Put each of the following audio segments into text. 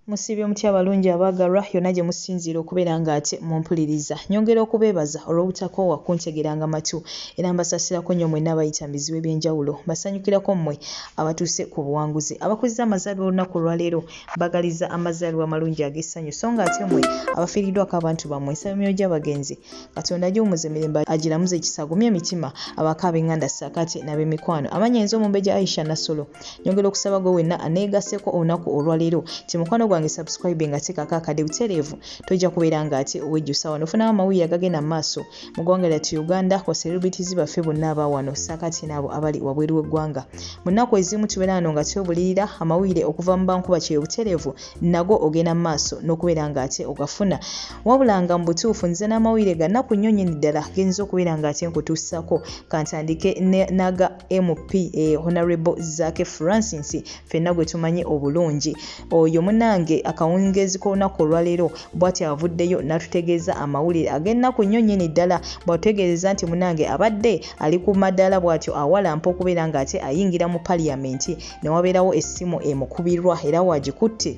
Musiibye mutya abalungi abaagalwa yonna gye musinziira okubeera ng'ate mumpuliriza. Nyongera okubeebaza olw'obutakoowa kuntegeranga matu era mbasasirako nnyo mwenna abayita mu bizibu eby'enjawulo. Mbasanyukirako mmwe abatuuse ku buwanguzi. Abakuzza amazaalibwa olunaku olwaleero mbagaliza amazaalibwa amalungi ag'essanyu so ng'ate mmwe abafiiriddwako abantu bammwe nsaba emyoyo gy'abagenzi katonda agiwumuze mirembe agiramuze ekisa agumye emitima abako abenganda sakati nabemikwano amanya yinza omumbeja aisha nasolo nyongera okusaba gwe wenna aneegaseko olunaku olwaleero ti mukwano gwange subscribe nga tekako akade butereevu tojja kubeera nga ate owejjusa wano ofunawo amawulire agagenda mu maaso mu ggwanga lyattu uganda kwa celebrities baffe bonna aba wano sakati naabo abali wabweru w'eggwanga mu nnaku ezimu tubeera wano nga twebulirira amawulire okuva mu bankuba kyeyo butereevu nago ogenda mu maaso n'okubeera nga ate ogafuna wabula nga mu butuufu nze n'amawulire ga nnaku nnyo nyini ddala genyinza okubeera nga ate nkutuusako kantandike naga mp e eh, honorable zake francis fenna gwe tumanyi obulungi oyo munange akawungeezi k'olunaku olwaleero bwati avuddeyo n'atutegeeza amawulire ag'ennaku nnyo nyini ddala bwatutegeereza nti munange abadde ali ku madaala bwatyo awalampa okubeera nga ate ayingira mu paliyamenti ne wabeerawo essimu emukubirwa era waagikutte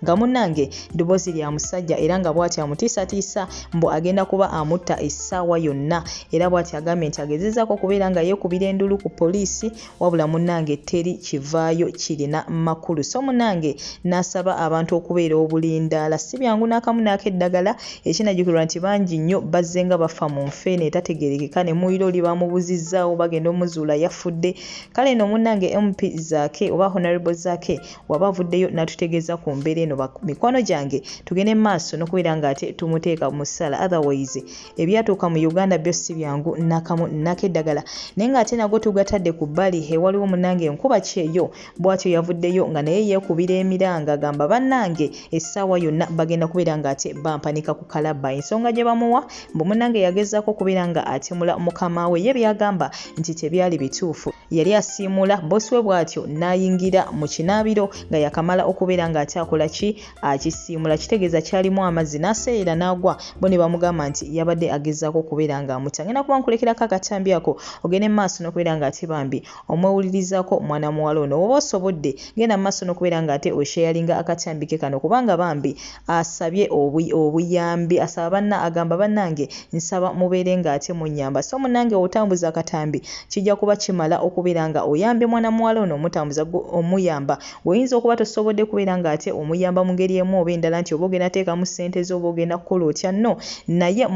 nga munnange ddoboozi lya musajja era nga bw'ati amutiisatiisa mbu agenda kuba amutta essaawa yonna era bw'ati agambye nti agezezaako okubeera nga yeekubira endulu ku poliisi wabula munnange teri kivaayo kirina makulu so munnange n'asaba abantu okubeera obulindaala si byangu n'akamu naako eddagala ekinajjukirwa nti bangi nnyo bazze nga bafa mu nfeene etategerekeka ne muyiro oli bamubuzizzaawo bagenda omuzuula yafudde kale no munange mp zake oba honorable zake waba avuddeyo natutegeeza ku mbeera eno mikwano gyange tugende maaso nokubeera nga ate tumuteeka mu ssala otherwise ebyatuuka mu uganda byo si byangu nakamu nako eddagala naye nga ate nago tugatadde ku bbali ewaliwo munange nkuba kyeyo bwatyo yavuddeyo nga naye yeekubira emiranga agamba banange essaawa yonna bagenda kubeera nga ate bampanika ku kalabba ensonga gye bamuwa mbu munange yagezaako okubeera nga atemula mukama we ye byagamba nti tebyali bituufu yali asiimula bosi we bw'atyo n'ayingira mu kinaabiro nga yakamala okubeera ng'akyakola ki akisiimula kitegeeza kyalimu amazzi n'aseeyera n'agwa bo ne bamugamba nti yabadde agezaako okubeera ng'amuta ngenda kuba nkulekera ka katambi ako ogende mu maaso n'okubeera ng'ate bambi omwewulirizako mwana muwala ono woba osobodde genda mumaso nokubeera nga ate osharinga akakyambike kano kubanga bambi asabye obuyambi asaba banna agamba banange nsaba mubeere nga ate munyamba so munange wotambuza akatambi kijja kuba kimala okubeera nga oyambye mwana muwala ono omutambuza omuyamba woyinza okuba tosobodde kubeera nga ate omuyamba mungeri emu oba endala nti oba ogenda teekamu ssente zo oba ogenda kukola otya no naye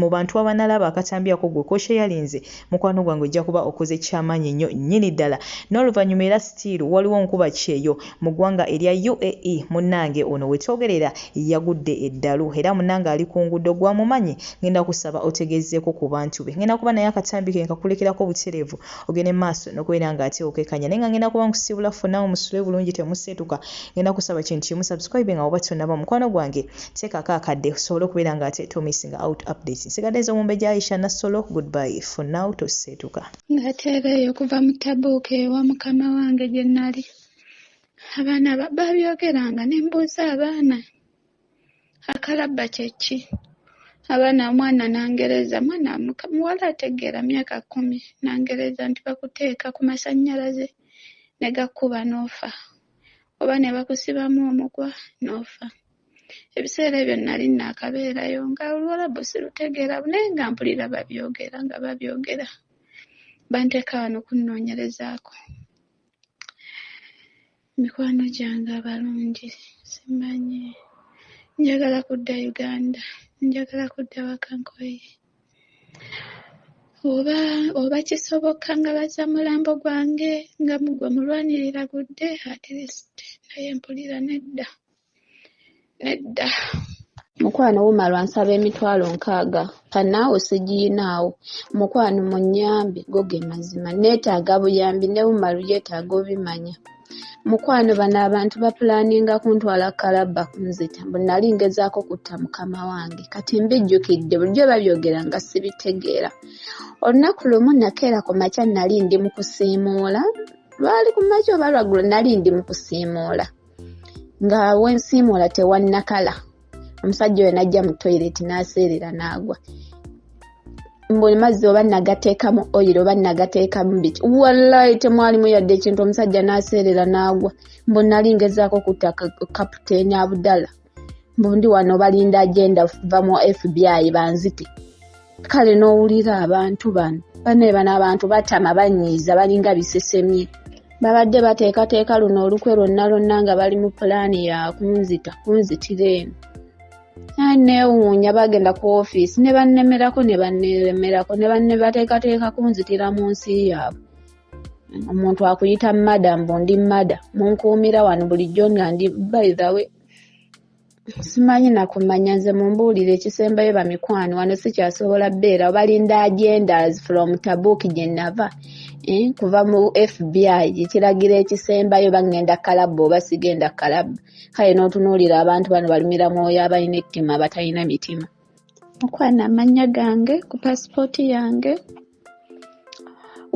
mubantu abanalaba akatambi ako gwe kosharinze mukwano gwange ojja kuba okoze kyamaanyi nnyo nnyini ddala n'oluvannyuma era sitiiru waliwo nkuba kyeyo mu ggwanga erya uae munnange ono wetwogerera yagudde eddalu era munnange ali ku nguudo gwamumanyi ngenda kusaba otegezeeko ku bantu be ngenda kuba naye akatambi ke nkakulekerako butereevu ogende maaso n'okubeera nga ate okekanya naye nga ngenda kuba nkusiibula ffe naawe musule bulungi temuseetuka ngenda kusaba kintu kimu subscribe nga oba tonaba mukwano gwange Teekako akadde osobole okubeera nga ate to missing out updates. Nsigadde nze omumbejja Aisha Nassolo, goodbye for now toseetuka. Nateeba eyo okuva mu Tabuuka ewa mukama wange gye nali. Abaana ba- baabyogeranga ne mbuuza abaana akalabba kye ki? Abaana omwana n'angereza mwana muka- muwala ategeera myaka kkumi n'angereza nti bakuteeka ku masannyalaze ne gakuba n'ofa oba ne bakusibamu omugwa n'ofa. Ebiseera ebyo nnali nnaakabeerayo nga Oluwalabu sirutegeera naye nga mpulira babyogera nga babyogera. Banteeka wano kunnoonyerezaako mikwano gyange abalungi simanyi. Njagala kudda Uganda, njagala kudda waka nkoye. Oba oba kisoboka nga bazza mulambo gwange nga gwe mulwanirira gudde at least naye mpulira nedda. nedda mukwano wumalwa nsaba emitwalo nkaaga kanaawo sigiyinaawo mukwano munyambe go ge mazima neetaaga buyambi ne wumalu yeetaaga obimanya mukwano bano abantu bapulaninga kuntwala kalabba kunzita mbu nali ngezaako kutta mukama wange kati mbijjukidde bulijjo babyogera nga sibitegeera olunaku lumu nakeera ku makya nali ndi mu kusiimuula lwali ku makya oba lwaggulo nali ndi mu kusiimuula nga wensiimuula tewannakala omusajja oyo najja mu toyireti n'aseerera n'agwa mbuli mazzi oba nagateekamu oyiro oba nagateekamu biki wallayi temwalimu yadde ekintu omusajja n'aseerera n'agwa mbu nali ngezaako kutta kaputeeni abudala mbundi wano balinda agenda va mu fbi banzite kale n'owulira abantu bano bane bano abantu batama banyiiza balinga bisesemye babadde bateekateeka luno olukwe lwonna lwonna nga bali mu pulaani ya kunzita kunzitira eno neewuunya bagenda ku ofiisi ne bannemerako ne banneeremerako ne bannebateekateeka kunzitira mu nsi yaabwe omuntu akuyita mada mbu ndi mada munkuumira wano bulijjo nga ndi by the way simanyi nakumanya nze mumbuulire ekisembayo bamikwano wano sikyasobola beera obalinda agendas from tabuk gyenava eh, kuva mu fbi ekiragira ekisembayo bagenda kalabba oba sigenda kalabba kale n'otunuulira abantu bano balumira mwoyo abalina ettima batalina mitima okwana amanya gange ku pasipooti yange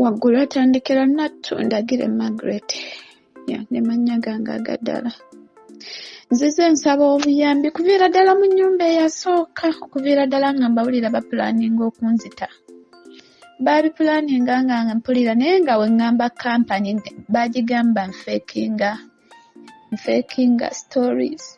waggulu atandikira nattu ndagire margaret nemanya gange agaddala nzize nsaba obuyambi kuviira ddala mu nyumba eyasooka okuviira ddala nga mbawulira bapulaninga okunzita baabipulaninga nga mpulira naye nga weŋŋamba kampani baagigamba nfeekinga nfeekinga stories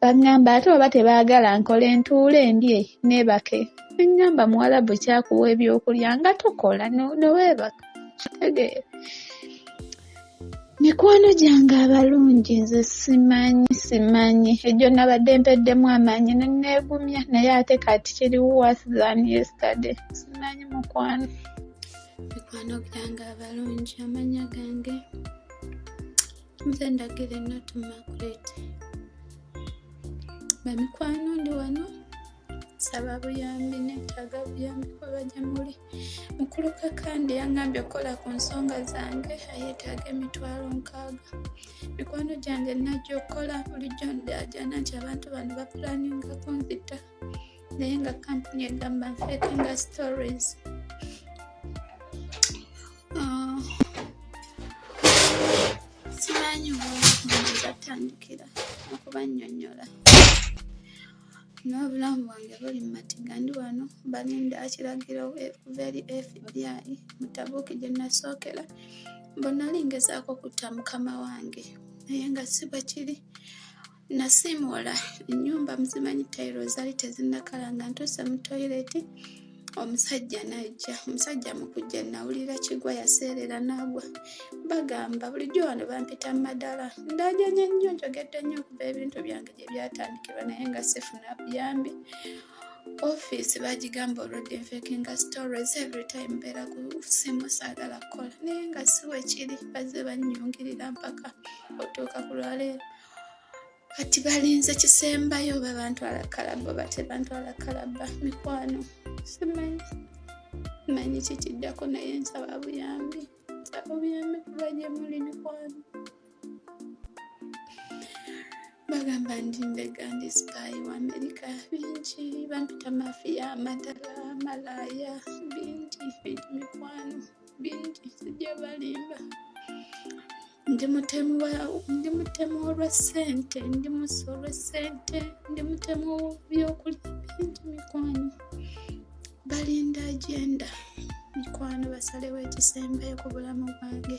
Bangamba ate oba tebaagala nkole ntuule ndye neebake ne ngamba muwalabu ki akuwa ebyokulya nga tokola ne weebaka kitegeera Mikwano gyange abalungi nze simanyi simanyi egyo nabadde mpeddemu amaanyi ne nneegumya naye ate kati kiri worse than yesterday simanyi mukwano mikwano gyange abalungi amanya gange nze ndagire natu makulet bamikwano ndi wano nsaba buyambi netaaga buyambi kuba gye muli mukulu kakandi yangambye okukola ku nsonga zange ayetaaga emitwalo nkaaga mikwano gyange najja okukola bulijjo ndajana nti abantu bano bapulaninga kunzita naye nga kampuni egamba nfeekenga stories Oh. simanyi batandikira okubanyonyola n'obulamu bwange buli mu matiga ndi wano balinda kiragiro okuva eri fbi mutabuuki gye nasookera mbonali ngezaako okutta mukama wange naye nga si bwe kiri Nasiimuula ennyumba muzimanyi tayiro zaali tezinnakala nga ntuuse mu toyireti omusajja n'ajja omusajja mu kujja nawulira kigwa yaseerera n'agwa bagamba bulijjo wano bampita mu madala ndajanya nnyo njogedde nnyo okuva ebintu byange gye byatandikirwa naye nga sifuna buyambi ofiisi bagigamba olwedde nfeke nga stories every time mbeera ku simu saagala kukola naye nga siwe kiri bazze bannyungirira mpaka otuuka ku lwaleero kati balinze kisembayo oba bantwala kalaba oba tebantwala kalaba mikwano simanyi manyi kikiddako naye nsaba buyambi nsaba buyambi kuba gye muli mikwano bagamba ndi mbega ndi sipaayi wa amerika bingi bampita mafiya amadala malaya bingi bingi mikwano bingi sijja balimba ndi mutemu ndi mutemu olwa ssente ndi musi olwa ssente ndi mutemu w'ebyokulya bingi mikwano balinda agenda mikwano basalewo ekisembayo ku bulamu bwange